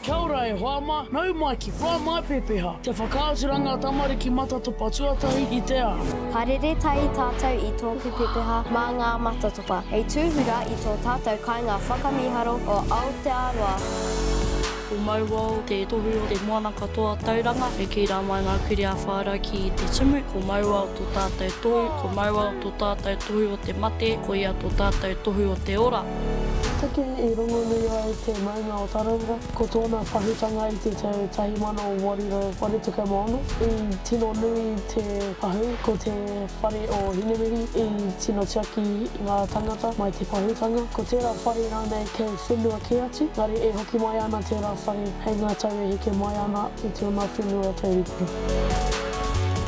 Kia ora e hoa ma, nau mai ki wha mai pepeha, te whakaaturanga tamariki matatopa tuatahi i te ao. Ka rere tahi tātou i tōku pepeha mā ngā matatopa hei tūhura i tō tātou kainga whakamīharo o Aotearoa. Ko Mauao te tohu o te moana katoa Tauranga, e kī rā mai ngā kuria whāra ki te tumu, ko Mauao tō tātou tohu, ko Mauao tō tātou tohu o te mate, ko ia tō tātou tohu o te ora. Te tuki i rongonui ai te. Huna o Tarawera, ko tōna pahūtanga i te tau 1886, i tino nui te pahū, ko te whare o Hinemihi i tino tiaki ngā tāngata mai te pahūtanga, ko tērā whare rānei kei whenua kē atu, engari e hoki mai ana tērā whare hei ngā tau e heke mai ana i tōna whenua taurikura.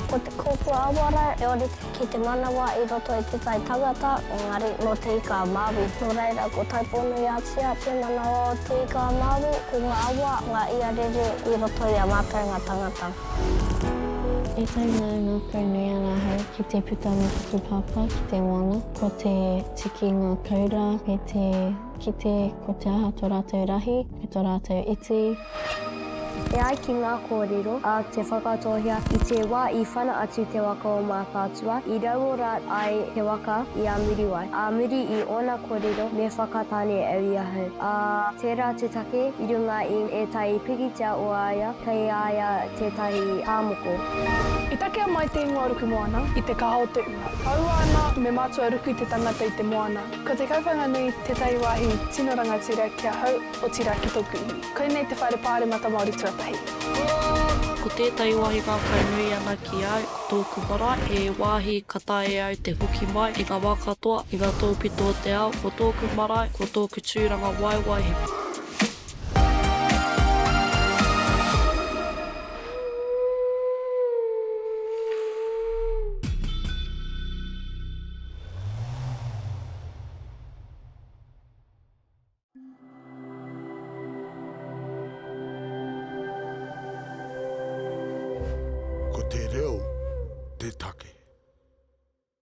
Ko te kōpuawara e ora te ki te manawa i roto i Te Tai Tangata, engari nō Te Ika-a-Māui. Nō reira, ko Taupō-nui-a-Tia te manawa o Te Ika-a-Māui, ko ngā awa, ngā iarere i roto i a mātou ngā tangata. I taenga e ngākau nei a Rāhau ki te puta me Hakupāpā ki te moana, ko te tiki ngākau rā me te. Kite ko te aha to ratou rahi, ko to ratou iti. E ai ki ngā kōrero, a Te Whakatōhea, i te wā i whana atu te waka o Mātaatua, i rauora ai te waka i a Muriwai. Ā muri i ōna kōrero, me Whakatane au i ahau. Ā, tērā te take, i runga i ētahi pikitia o a ia, kei a ia tētahi tāmoko. I takea mai te ingoa ruku moana i te kaha o te ua. Kaua ana me mātua ruku te tangata i te moana. Ko Te Kauwhanganui tētahi wāhi tino rangatira ki ahau, otirā ki tōku iwi. Koinei te whaere pāremata Māori tuatahi. Ko tētahi wāhi ngākau nui ana ki a au, ko tōku marae, he wāhi ka taea e au te hoki mai i ngā wā katoa, i ngā tōpito o te ao, ko tōku marae, ko tōku tūranga waewae he. Ko te reo te take.